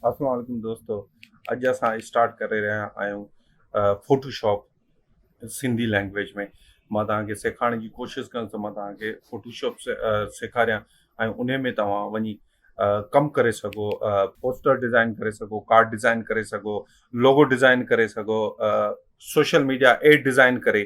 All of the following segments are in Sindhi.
اسلام عليڪم دوستو اڄ اسان اسٽارٽ ڪري رهيا آهيون فوٽو شاپ سنڌي لينگويج ۾ مان توهان کي سيکارڻ جي ڪوشش ڪندس ته مان توهان کي فوٽو شاپ سيکاريان ۽ ان ۾ توهان وڃي ڪم ڪري سگهو پوسٽر ڊيزائن ڪري سگهو ڪارڊ ڊيزائن ڪري سگهو لوگو ڊيزائن ڪري سگهو سوشل ميڊيا ايڊ ڊيزائن ڪري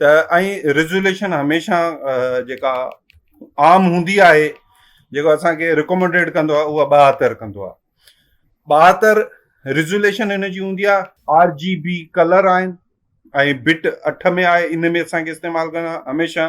ته ۽ ريزوليشن هميشه جيڪا عام هوندي آهي جيڪو اسانکي رڪمنڊيڊ ڪندو آهي اها ٻاهتر ڪندو آهي ٻاهتر ريزوليشن هن جي هوندي آهي آر جي بي ڪلر آهن ۽ بٽ اٺ ۾ آهي ان ۾ اسانکي استعمال ڪرڻ هميشه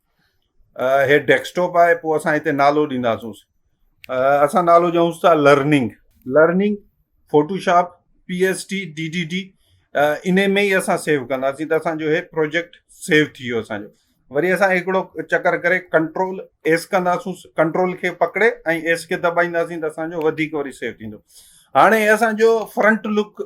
هي ڊيسڪٽاپ آهي پوء اسان هتي نالو ڏينداسون اسان نالو ڏيونس ٿا learning learning Photoshop P S T D D D ان ۾ ئي اسان سيو ڪنداسين ته اسانجو هي پروجيڪٽ سيو ٿي ويو اسانجو وري اسان هڪڙو چڪر ڪري ڪنٽرول ايس ڪنداسون ڪنٽرول کي پڪڙي ۽ ايس کي دٻائينداسين ته اسانجو وڌيڪ وري سيو ٿيندو هاڻي اسانجو فرنٽ لڪ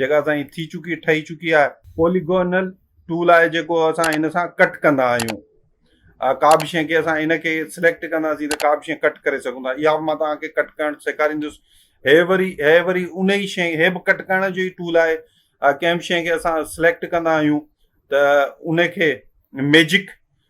جيڪا اسان جي ٿي چڪي ٺهي چڪي آهي. پوليگونل ٽول آهي جيڪو اسان ان سان ڪٽ ڪندا آهيون ڪا به شي کي اسان ان کي سليڪٽ ڪنداسين ته ڪا به شي ڪٽ ڪري سگهون ٿا اها به مان توهان کي ڪٽ ڪرڻ سيکاريندس هي وري هي وري ان ئي شي هي به ڪٽ ڪرڻ جو ئي ٽول آهي ڪنهن به شي کي اسان سليڪٽ ڪندا آهيون ته ان کي ميجڪ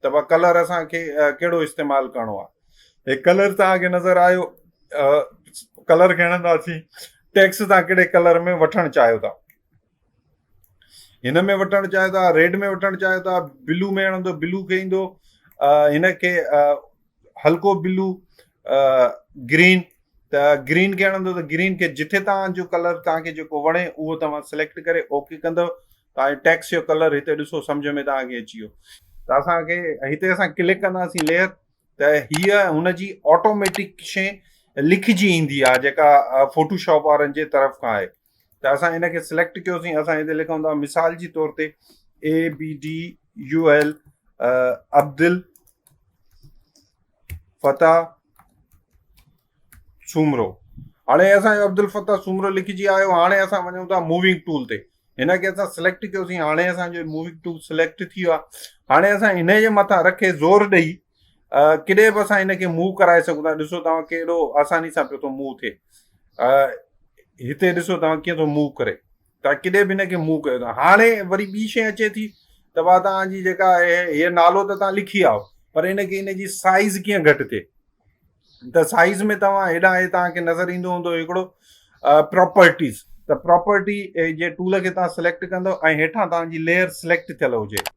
ته بھ ڪلر اسان کي ڪھڙو استعمال ڪرڻو آھي ھي ڪلر توھان کي نظر آيو ڪلر کڻنداسين ٽيڪس توھان ڪھڙي ڪلر ۾ وٺڻ چاھيو ٿا ھن ۾ وٺڻ چاھيو ٿا ريڊ ۾ وٺڻ چاھيو ٿا بلو ۾ ھڻندو بلو کي ايندو ھن کي ھلڪو بلو گرين ته گرين کي ھڻندو ته گرين کي جتي توھان جو ڪلر توھان کي جيڪو وڻي اھو توھان سليڪٽ ڪري اوڪي ڪندو تاجو ٽيڪسٽ جو ڪلر هتي ڏسو سمجهه ۾ توهان کي اچي ويو ته اسان کي هتي اسان ڪلڪ ڪنداسين ليئر ته هيء هن جي آٽوميٽڪ شي لکجي ايندي آهي جيڪا فوٽو شاپ وارن جي طرف کان آهي ته اسان ان کي سليڪٽ ڪيوسين اسان هتي لکون ٿا مثال جي طور تي A B D U L Abdul Fateh Soomro هاڻي اسان جو عبدالفتاح سومرو لکجي آيو هاڻي اسان وڃون ٿا موونگ ٽول تي هن کي اسان سليڪٽ ڪيوسين هاڻي اسان جو موونگ ٽول سليڪٽ ٿي ويو آهي هاڻي اسان هن جي مٿان رکي زور ڏئي ڪڏهن به اسان هن کي موو ڪرائي سگهون ٿا ڏسو توهان ڪهڙو آساني سان پيو ٿو موو ٿئي هتي ڏسو توهان ڪيئن ٿو موو ڪري توهان ڪڏهن به هن کي منهن ڪيو ڪانه هاڻي وري ٻي شي اچي ٿي ته وا توهان جي جيڪا آهي هي نالو ته توهان لکي آئو پر هن کي هن جي سائز ڪيئن گهٽ ٿئي ته سائز ۾ توهان هيڏانهن هي توهان کي نظر ايندو هوندو هڪڙو پراپرٽيز ته پراپرٽي جي ٽول کي توهان سليڪٽ ڪندو ۽ هيٺان توهان جي ليئر سليڪٽ ٿيل هجي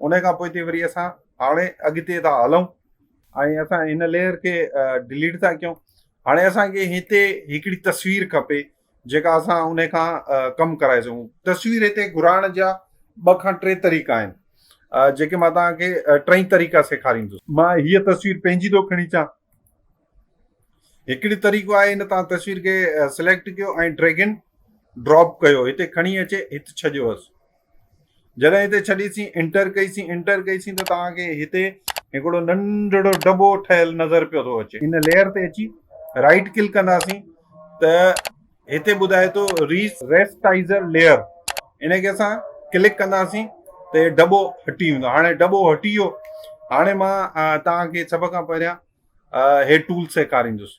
انهي کان پوءتي وري اسان هاڻي اڳتي ٿا هلون ۽ اسان هن ليئر کي ڊليٽ ٿا ڪيون هاڻي اسان کي هتي هڪڙي تصوير کپي جيڪا اسان انهي کان ڪم ڪرائي سگهون تصوير هتي گهرائڻ جا ٻه کان ٽي طريقا آهن جيڪي مان توهان کي ٽئي طريقا سيکاريندس مان هيء تصوير پنهنجي ٿو کڻي اچان هڪڙي طريقو آهي ان تان تصوير کي سليڪٽ ڪيو ۽ ڊريگن ڊراپ ڪيو هتي کڻي اچي هت ڇڏيو هس جڏهن هتي ڇڏيسين انٽر ڪئيسين انٽر ڪئيسين ته توهان کي هتي هڪڙو ننڍڙو ڊبو ٺهيل نظر پيو ٿو اچي ان ليئر تي اچي رائٽ ڪلڪ ڪنداسين ته هتي ٻڌائي ٿو ريس ريسٽائيزر ليئر ان کي اسان ڪلڪ ڪنداسين ته هي ڊبو هٽي ويندو هاڻي ڊبو هٽي ويو هاڻي مان تان کي سڀ کان پهريان هي ٽول سيکاريندس